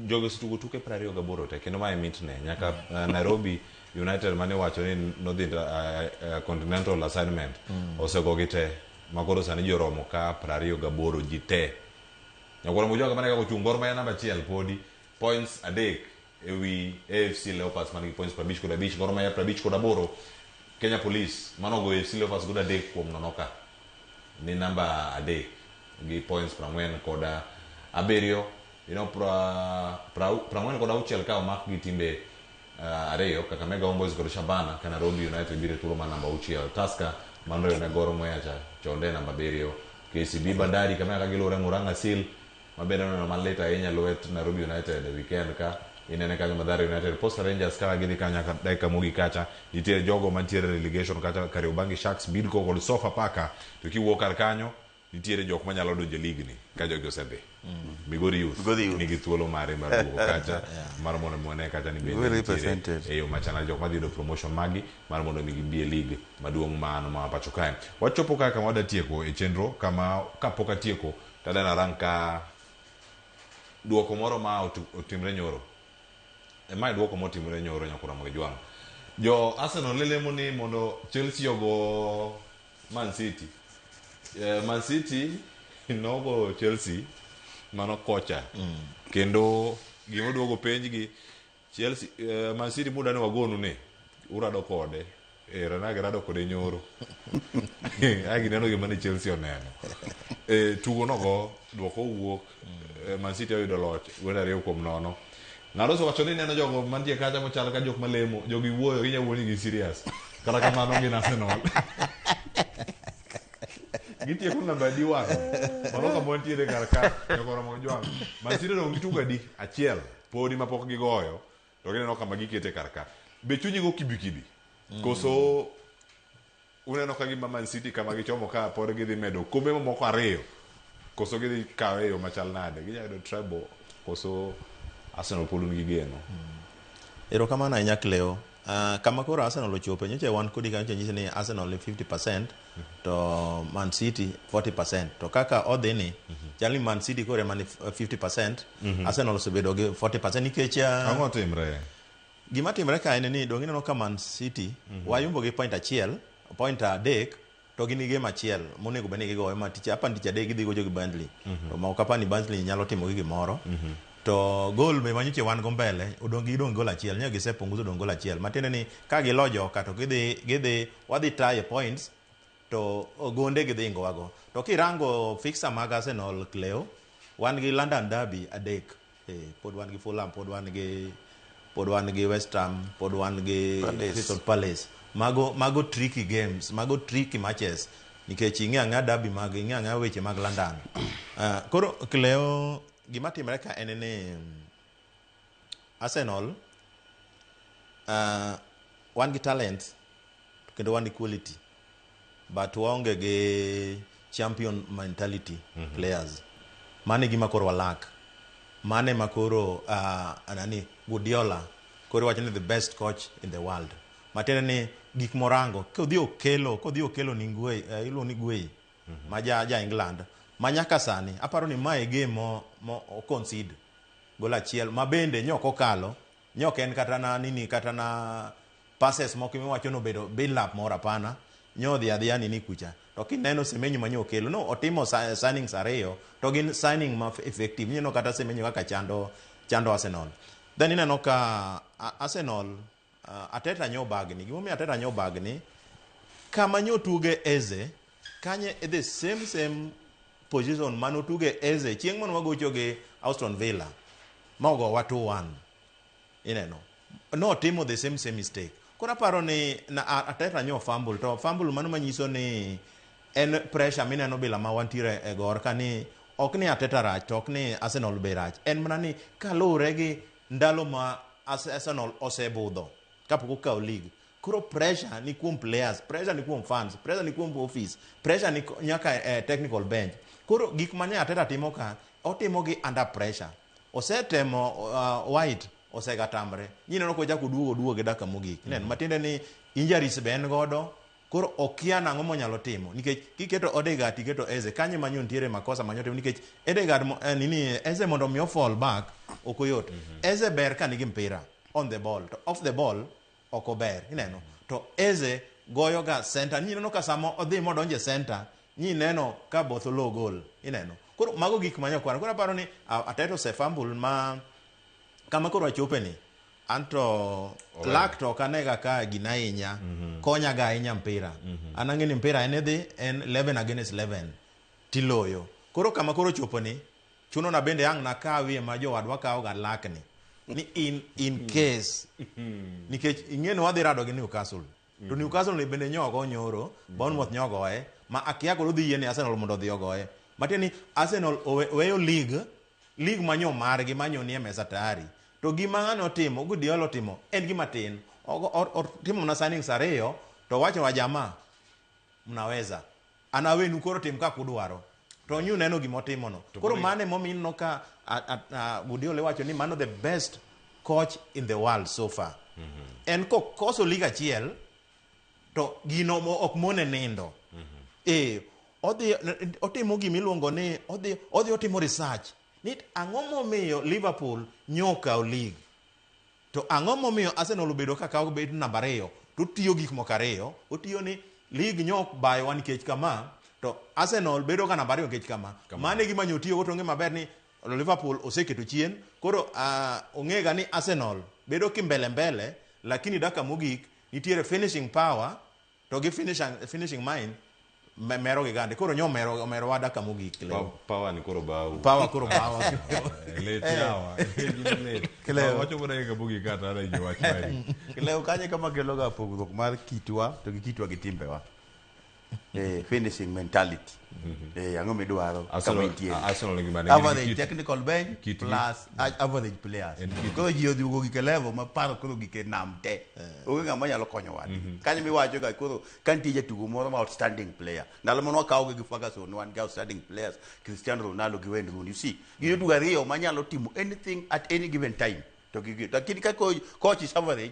jogi osetugo tuke piero ariyo gaboro te kendo mae mitne nyaka uh, nairobi united mane wacho ni nodhi uh, uh, continental assignment mm. osegogi te makoro sani ji oromo ka piero ariyo gaboro ji te nyakoro mujoga mane kaka ochung' gor maya namba achiel podi points adek ewi afc leopards man gi points prabich kod abich gor maya prabich kod aboro kenya police manogo afc leopards godo adek kuom nono ka ni namba adek gi points prang'wen kod abiriyo you know, pra, pra, prang'wen kod auchiel ka omak gi timbe uh, ariyo Kakamega Homeboys kod Shabana ka Nairobi United biro e thuolo mar namba auchiel Tusker manoriwne Gor Muyacha chonde namba abiriyo KCB Bandari Kakamega ka giluwore Murang'a Seal ma bende oneno malit ahinya lwet Nairobi United e weekend ka inene kanyo Mathare United Posta Rangers kaka gidhi kanyo nyaka dakika mogik kacha nitiere jogo mantiere relegation kacha Kariobangi Sharks Bidco kod Sofapaka to kiwuok kar kanyo nitiere jok manyalo donjo e lig ni ka jogi osedhi Migori Youth Migori Youth. nigi thuolo mare mar duogo kacha mar mondo mi wane kacha ni bende Very nitiere represented. e yo machana jok madhi yudo promotion magi mar mondo mi gibi e lig maduong' mano ma pacho kae wachopo kaka kama wada tieko e chenro kama kapok atieko To adwani arang ka duoko moro ma otu- otimre nyoro. E mae duoko motimre nyoro nyakuramo gi jwang'. Jo Arsenal ne lemo ni mondo Chelsea ogo Man City. Eh, Man City nogo Chelsea mano kocha. Kendo gima oduogo penjgi Chelsea, eh, Man City muda ne wagonu ni urado kode. Eh, Ranage rado kode nyoro. Agi neno gima ni Chelsea oneno. Eh, tugo nogo dwoko wuok. Eh, Man City oyudo loch gwenda ariyo kuom nono. Ng'ado so wacho ni neno jogo mantie kacha mochal ka jok malemo, jogi wuoyo ginya wuoyo ni gi serious. Kata kamano gin Arsenal. gitieko namba adi wang' mano kama wantiere kar ka jogoromo jwang' masire dong gitugo adi achiel podi ma pok gigoyo to gineno kama gikete kar ka be chunyi go kibikibi koso uneno ka gima man city kama gichomo ka pod gidhi medo kombe mamoko ariyo koso gidhi kawe e yo machal nade ginyalo yudo treble koso arsenal pod un gi geno Erokamano ahinya Cleo. Ah, kama koro Arsenal ochope nyocha wan kodi kanyo to nyisi ni Arsenal ni 50% to Man City 40%. To kaka odhi ni, chal ni Man City koro ema ni 50%, Arsenal osebedo gi 40% nikech ah, Ang'o timre? gima timre ka en ni donge ineno ka Man City wayombo gi point achiel, point adek to gin gi game achiel monego bed ni gigoyo ma tich apa tich adek gidhi gocho gi Burnley. To ma ok apa ni Burnley nyalo timo gi gimoro. To gol be manyoche wan go mbele odong gi dong gol achiel nyo gise punguzo dong gol achiel matiende ni ka gilo joka to gidhi gidhi wadhi tie points to gonde gidhi ingo wago to kirango fixer mag Arsenal Cleo wan gi London Derby adek eh, pod wan gi Fulham pod wan gi pod wan gi West Ham pod wan gi Palace. Crystal Palace mago mago tricky games mago tricky matches nikech ing'e ang'e derby mag ing'e ang'e weche mag London uh, koro Cleo Gima timre ka en ni Arsenal uh, wan gi talent kendo wan gi quality but waonge gi champion mentality mm -hmm. players mane gima koro walak mane ma koro uh, nani Guardiola koro wacho ni the best coach in the world matiende ni gik morango kodhi okelo kodhi okelo ni ngwe uh, iluongo ni gwei ma ja, ja England ma nyaka sani aparo ni mae game mo, mo concede gol achiel ma bende nyok okalo nyok en kata na nini kata na passes moko miwacho no bedo build up moro hapana nyodhi adhiya nini kucha to kineno semenyo ma nyokelo no otimo sa- signings ariyo to gin signing ma effective ineno kata semenyo kaka chando chando Arsenal then ineno ka a- Arsenal Uh, ateta nyo bagni gimomiyo ateta nyo bagni kama nyo tuge eze kanye e the same same position mane otuge eze chieng' mane wagocho gi auston villa ma ogowa 2-1 ineno notimo the same same mistake koro aparo ni na- a- ateta nyo fumble to fumble mano manyiso ni en pressure mineno bila ma wantiere e gor ka ni ok ni ateta rach to ok ni arsenal be rach en mana ni kaluwore gi ndalo ma Arsenal osebudho kapok okawo lig. Koro pressure ni kuom players, pressure ni kuom fans, pressure ni kuom office, pressure ni nyaka eh, technical bench. Koro gik mane Arteta timo ka, otimo gi under pressure. Osetemo uh, White osega tamre. Nyineno kochako duogo duogo gi daka mogik. Mm. Matiende ni injuries be en godo, Koro okia nang'o monyalo timo nikech kiketo Odegaard tiketo Eze kanye manyo ntiere makosa manyo timo nikech Odegaard mo- eh, nini Eze mondo mi ofall back ok oyot. Eze ber ka nigi mpira on the ball to off the ball ok ober ineno to Eze goyo ga center nyineno ka samo odhi modonje center nyineno ka both low goal ineno. Koro mago gik manyo kwano koro aparo ni a- Ateta osefumble ma kama koro achopeni Anto Owe. lak to ok anega ka gina ahinya. Konyaga ahinya mpira. An ang'e ni mpira en idhi en 11 against 11 tiloyo. Koro kama koro choponi chuno na bende ang' nakawie ma jowadwa kawoga lakni ni in in case nikech ing'e ni wadhi rado gi Newcastle. To Newcastle ni bende nyogo nyoro, Bournemouth nyogoe ma akia koro dhi yie ni Arsenal mondo odhi ogoye. Matiende ni Arsenal owe- oweyo league League manyo margi manyo nie mesa tayari to gima ng'ane otimo Guardiola otimo en gima tin otimo mana signings ariyo to owacho wajamaa mnaweza an awenu koro tim kaka udwaro to nyu neno gima otimono koro mano emomiyo ineno ka Guardiola iwacho ni mano the best coach in the world so far en kokoso lig achiel to gino mo- ok mone nindo ee odhi otimo gima iluongo ni odhi odhi otimo research ni ang'o momiyo Liverpool nyokawo lig to ang'o momiyo Arsenal obedo ka kawo bet namba ariyo to otiyo gik moko ariyo otiyo ni lig nyok bayowa nikech kama to Arsenal bedo ka namba ariyo nikech kama mano e gima nyotiyogo to ong'e maber ni Liverpool oseketo chien koro uh, ong'ega ni Arsenal bedo kimbele mbele lakini daka mogik nitiere finishing power To gi finish and, finishing mine me- mero gi gande. Koro nyo mero omero wada kama ogik Pa- leo. Power ni koro bawu. Power koro bawa. Eh, Let yawa. Let. Kileo. Wacho mana kaka bugi kata ana ji wach mari. Leo kanye kama keloga pogruok mar kitwa to gi kitwa gi timbewa. Eh, finishing mentality. Mm-hmm. Eh, ang'o midwaro kama intiere average technical bench plus average players koro ji odhiugo gike level ma paro koro gike nam te eh. onge ng'ama nyalo konyo wadi mm-hmm. kanyo miwacho ga koro ka nitie jatugo moro ma outstanding player ndalo mano wakawogi gi Ferguson wan gi outstanding players Cristiano Ronaldo gi Wayne Rooney you see gi jotugo ariyo ma nyalo timo anything at any given time to gi lakini ka coach is average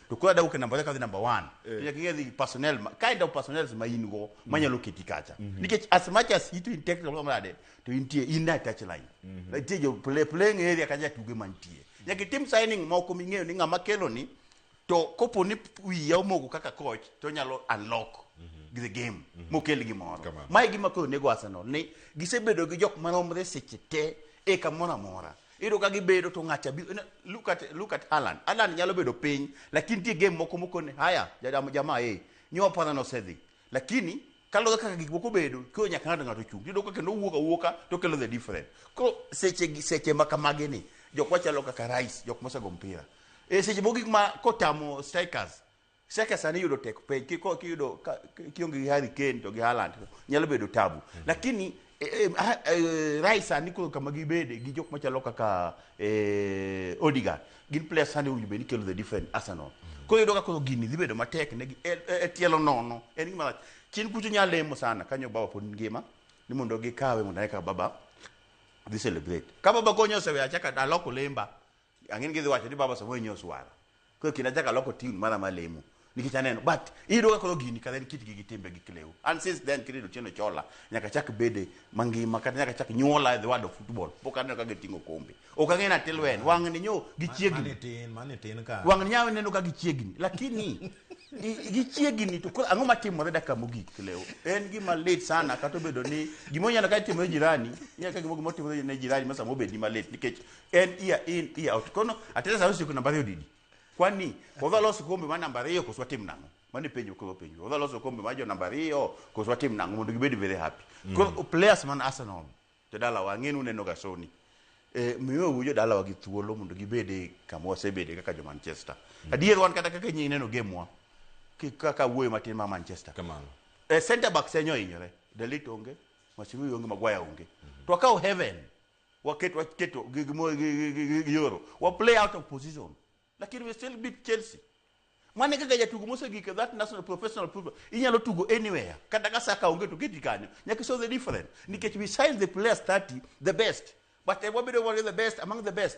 to koro adwa kendo namba kadhi namba 1 to nyaka ing'e the personnel ma- kind of personnel ma in go manyalo keti kacha nikech as much as it in technical or something to intie in a touch line nitie jo play playing area kacha tuge mantie nyaka itim signing moko ming'eyo ni ng'ama kelo ni to kopo ni wiya omogo kaka coach to nyalo unlock the game mokel gimoro Kamano. mae gima koro nego Arsenal ni gisebedo gi jok maromre seche te e kamoro amora Iyudo ka gibedo to ng'acha bi na- look at look at Alan. Alan nyalo bedo piny lakini nitie game moko mokone haya jadam jamaa eh nyoa pana no sedhi. Lakini kaluwore kaka gik moko bedo koro nyaka ng'ato ng'ato chung. Iyudo ka kendo wuok awuoka to kelo the different. Koro seche gi- seche ma kamagi ni jok machalo kaka Rice jok mosego mpira. E seche moko gik ma kotamo strikers Seke sani yudo tek pej kiko kiyudo ka- ki- kionge gi Harry Kane to gi Haaland nyalo bedo tabu. Lakini eh, eh, ha- eh, Rice sani koro kama gibede gi jok machalo kaka eh, Odegaard gin players sani owinjo bed ni kelo the different Arsenal. Koro yudo ka koro gini dhi bedo matek ne gi e e- e tielo nono en gima rach. Chien kucho nyalo lemo sana kanyo baba pod ngima ni mondo gikawe mondo eka baba dhi celebrate. Ka baba konyo osewe achaka aloko lemba ang'eni gidhi wacho ni baba samuel nyo swara koro kendo achaka loko tiun mara ma lemo nikech aneno but iyudo ka koro gini kadhen kitgi gi timbe gi klewu and since then kirito tieno chola nyaka chak bede mangima kata nyaka chak nyuola e the world of football pok aneno ka giting'o kombe ok ang'e na tilwen wang'ni nyo gichiegni Mani tin, mani tin ka. wang'ni nyawe neno ka gichiegni lakini i- gichiegni to koro ang'o matimore dakika mogik klewu en gima lit sana kata obedo ni gima onyalo ka itimo ne jirani nyaka gima gima otimore ne jirani ma sama obedni malit nikech en year in year out kono atenda sa usiku namba ariyo didi kwani odwa loso kombe ma namba ariyo koso watim nang'o mano penjo kwa penjo odwa loso kombe ma jo namba ariyo koso watim nang'o mondo gibed very happy mm. koro mm. players man Arsenal to dala wa ng'enu neno ga soni eh miyo wujo dala wa gi thuolo mondo gibede kama wasebede kaka jo Manchester mm. adier wan kata kaka nyinyi neno game wa kaka wuoyo matin ma Manchester kamano eh center back senyo inyore Dalit onge Masirui onge Maguire onge mm -hmm. to akawo heaven waket waketo gi- gi- mo- gi- gi- gi- gi- gi yoro wa play out of position lakini we still beat chelsea mane kaka jatugo mosegik e that national professional football inyalo tugo anywhere kata ka saka onge to keti kanyo nyaka show the different nikech we size the players 30 the best but eh, wabedo wale the best among the best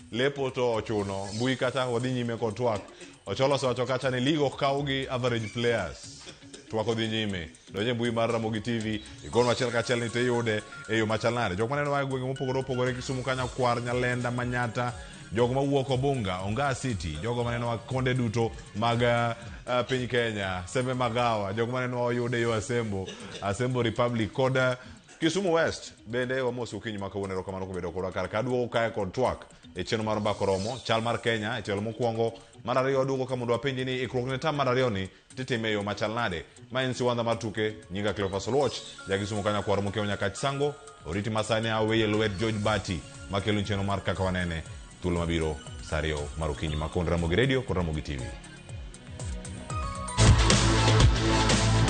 Lepo to ochuno. Mbui kacha wadhi nyime kod twak. Ocholo osewacho kacha ni lig ok kaw gi average players. Twak odhi nyime. Donj e mbui mar Ramogi TV, igonwa achiel kachiel ni to iyude e yo machal nade. Jok maneno a e gwenge mopogore opogore Kisumu kanyo Kwar, Nyalenda, Manyata, jogo mawuok Obunga, Ongaa City, jogo maneno a konde duto mag ah, ah, piny Kenya, Sembe Magawa, jogo maneno a oyude yo Asembo, Asembo Republic kod ah, Kisumu West bende wamosi okinyi ma kawuono erokamano kuom bedo kodwa kar ka aduogo kae kod twak e chenro mar mbako romo chal mar Kenya e tielo mokwongo mar ariyo aduogo ka mondo apenji ni ikruok ne tam mar ariyo ni titime e yo machal nade ma en siwandha mar tuke nyinga Cleophas Oluoch ja Kisumu kanya kwaro mokewo nyaka Chisango oriti masani aweye lwet George Bati makelo chenro mar kaka wanene thuolo mabiro sa ariyo mar okinyi ma kod Ramogi Radio kod Ramogi TV